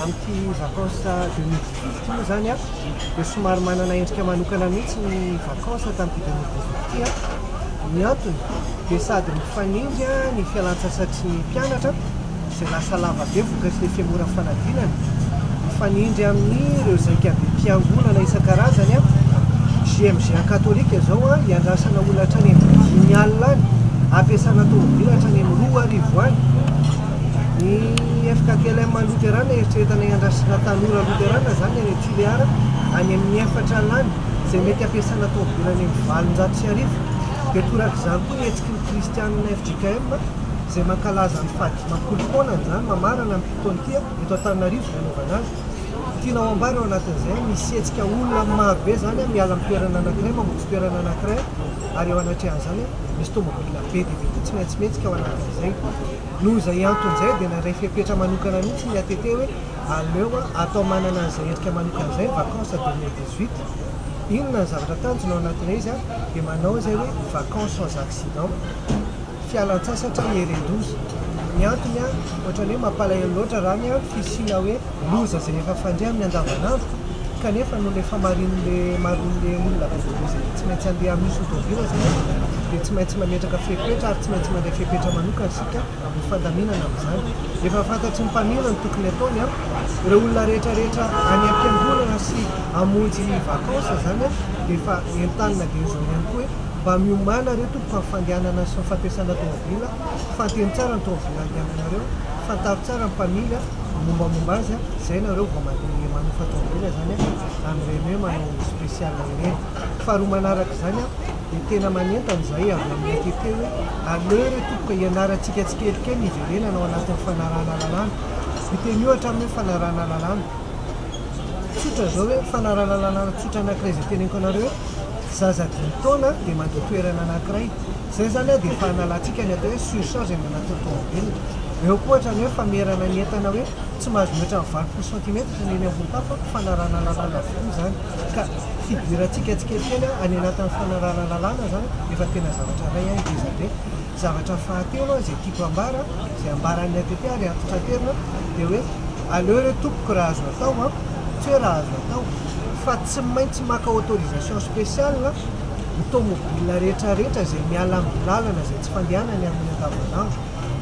Amin'ity vacances 2018 ity moa izany dia somary manana endrika manokana mihitsy ny vacances tamin'ity 2018 ity. Ny antony dia sady mifanindry ny fialantsasatry ny mpianatra izay lasa lava be vokatry ny femoran'ny fanadinana, mifanindry amin'ireo zaikabe mpiangonana isan-karazany, JMGA katolika izao hiandrasana olona hatrany amin'ny dimy alina any, hampiasana tomobila hatrany amin'ny roa arivo any. Ny FKTLM Luterana eritreretanay handrasitra tanora Luterana izany any Tuléar any amin'ny efatra alina izay mety hampiasana tômôbila any amin'ny valonjato sy arivo. Dia torak'izany koa ny hetsiky ny Kristianina fjkm izay mankalaza ny faha dimampolo taonany izany mamarana amin'ity taona ity eto Antananarivo izay hanaovana azy. Tianao ambara eo anatin'izay an, misy hetsika olona amin'ny maro be izany an, miala amin'ny toerana anankiray mamonjy toerana anankiray ary eo anatrehan'izany an, misy tômôbila be dia be koa tsy maintsy mihetsika ao anatin'izay. Noho izay antony izay dia nandray fepetra manokana mihitsy ny ATT hoe aleo atao manana an'izay endrika manokana izay ny vacances deux mille dix-huit. Inona ny zavatra tanjona ao anatin'ilay izy an? dia manao izay hoe vacances sans accidents, fialan-tsasatra hieren-doza. Ny antony an, ohatran'ny hoe mampalahelo loatra raha ny an, fisiana hoe. loza izay efa fandre amin'ny andavanandro kanefa noho ilay famarin'ilay maroan'ilay olona avy aty izay tsy maintsy handeha amin'io sotoavina izay dia tsy maintsy mametraka fepetra ary tsy maintsy mandray fepetra manokana isika amin'ny fandaminana amin'izany. Efa fantatry ny mpamily ny tokony hataony an! Ireo olona rehetrarehetra any am-piangonana sy hamonjy vacances izany an dia efa entanina dia izao ihany koa hoe mba miomàna re tompoko amin'ny fandehanana sy ny fampiasana toavina Fanteno tsara ny taovolo andiany anareo, fantaro tsara ny mpamily a, mombamomba azy a, zay nareo vao mandeha manofa taovolo zany a, amin'ireny hoe manao special ireny. Faharoa manaraka izany a, dia tena manentana izahay avy amin'ny ATT hoe, aleo re tompoko e, ianarantsika tsikelikely ny hiverenana ao anatin'ny fanarahana lalàna. Miteny ohatra amin'ny hoe fanarahana lalàna tsotra izao hoe, fanarahana lalàna tsotra anankiray izay teneniko anareo hoe, Zaza dimy taona dia mandeha toerana anankiray. Izay izany dia efa hanalantsika ny atao hoe surcharge any anatin'ny tomobilina. Eo koa ohatra ny hoe famerana ny entana hoe tsy mahazo mihoatra ny valopolo santimetatra ny eny ambony tafo an, fanarahana lalàna avokoa izany. Ka fidirantsika tsikelikely any anatin'ny fanarahana lalàna izany efa tena zavatra iray ngeza be. Zavatra fahatelo izay tiako hambara, izay ambaran'ny ATP ary antitraterina dia hoe aleo re tompoko raha azo atao an, tsy hoe raha azo atao fa tsy maintsy maka autorisation spéciale ny tomobile rehetra rehetra izay miala amin'ny lalana izay tsy fandehanany amin'ny andavanandro,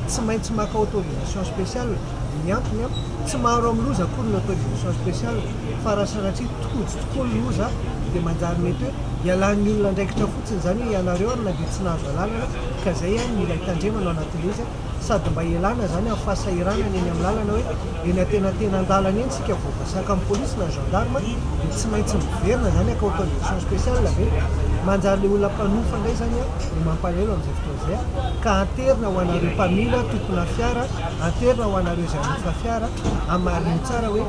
tsy maintsy maka autorisation spéciale, ny antony an, tsy maro amin'ny loza akory ny autorisation spéciale fa raha sanatria tojo tokoa ny loza dia manjary mety hoe ialàn'ny olona andraikitra fotsiny. Tsy izany hoe ianareo ary na dia tsy nahazo alalana ka izay ihany mila hitandremana ao anatin'ilay izy a! Sady mba ialana izany amin'ny fahasahiranana eny amin'ny lalana hoe eny antenatenan-dalana eny isika vao voasaka amin'ny polisy na gendarme dia tsy maintsy miverina izany hakao condition spéciale ve? Manjary ilay olona mpanofa indray izany a no mampalahelo amin'izay fotoana izay a! Ka anterina ho anareo mpamily a, tompona fiara a, anterina ho anareo izay hanofa fiara a, hamarino tsara hoe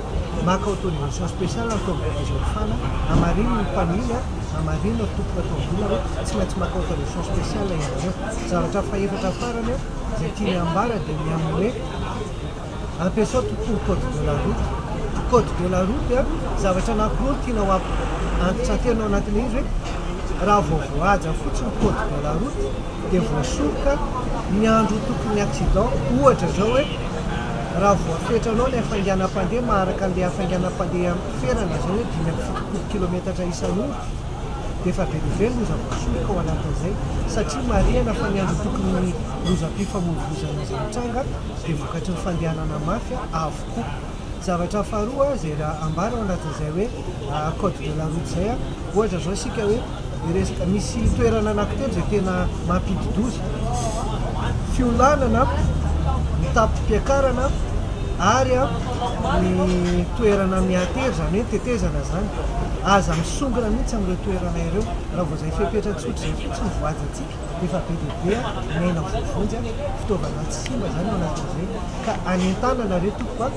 maka autorisation spéciale ny tomboky izao fana, hamarino ny mpamily a! Raha marina ry tompoko atao vola hoe tsy maintsy maka autorisation spéciale ianareo. Zavatra fahefatra farany eo izay tiany hambara dia ny amin'ny hoe ampiasao tontolo code de la route. Ny code de la route dia zavatra anankiroa no tiana ho antitranterina ao anatin'ilay izy hoe raha vao voahaja fotsiny ny code de la route dia voasoroka ny andro ho tompon'ny accident ohatra izao hoe raha voafetranao ilay hafainganam-pandeha maharaka an'ilay hafainganam-pandeha Toerana izao hoe dimy amby fitopolo kilometatra isan'ora dia efa velively loza voasoroka ao anatin'izay satria marihana fa ny antontokon'ny lozam-pifamoivoizana izay mitranga dia vokatry ny fandehanana mafy avokoa. Zavatra faharoa izay ambara ao anatin'izay hoe code de la route izay ohatra izao isika hoe Ny resaka misy toerana anankitelo izay tena mampidi-doza, fiolànana, ny tapipiakarana ary ny toerana mihatery, izany hoe ny tetezana izany. Aza misongona mihitsy amin'ireo toerana ireo raha vao izay fepetra tsotra izay fotsiny voajantsika efa be dia be ny aina voavonjy, fitaovana tsy simba izany ao anatin'izay ka anentanana re tompoko a!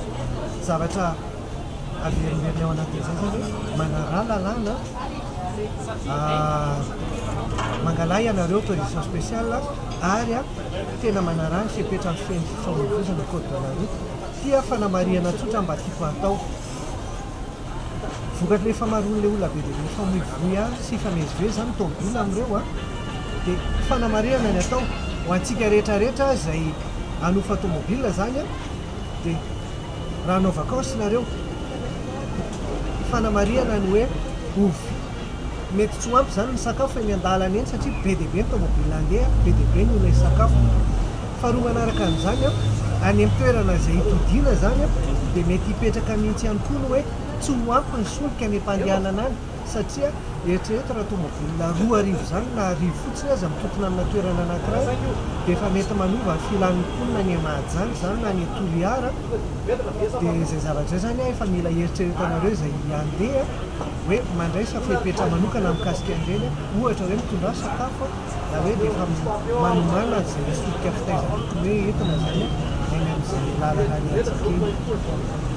zavatra Averimberina ao anatin'izay izany hoe manaraha lalàna, mangalaha ianareo autorisation spéciale ary tena manaraha ny fepetra feno fifamoivoizana code de la route. Ity aho fanamarihana tsotra mba tiako hatao. Vokatrin'ilay famaroan'ilay olona be dia be mifamoivoy ahy sy hifamezivezy izany ny taovolo amin'ireo dia fanamarihana ny atao ho antsika rehetra rehetra izay hanofa tomobil izany. dia raha hanao vakansy nareo, fanamarihana ny hoe ovy, mety tsy ho ampy izany ny sakafo eny an-dalana eny satria be dia be ny tomobile handeha, be dia be ny olona hisakafo. Faharoa manaraka an'izany, any amin'ny toerana izay hitodiana izany dia mety hipetraka mihitsy ihany koa ny hoe tsy ho ampy ny solika any am-pandehanana any. satria eritrereto raha tonga volana roa arivo izany na arivo fotsiny aza mitokona amina toerana anankiray dia efa mety manova ny filan'ny mponina any Mahajanga izany na any Toliara dia izay zavatra izay izany an efa mila heritreretanareo izay handeha hoe mandraisa fepetra manokana mikasika an'ireny ohatra hoe mitondrà sakafo na hoe dia efa manomàna izay misy solika fitaizana tokony hoe entina izany any amin'izay lalana any Antsakely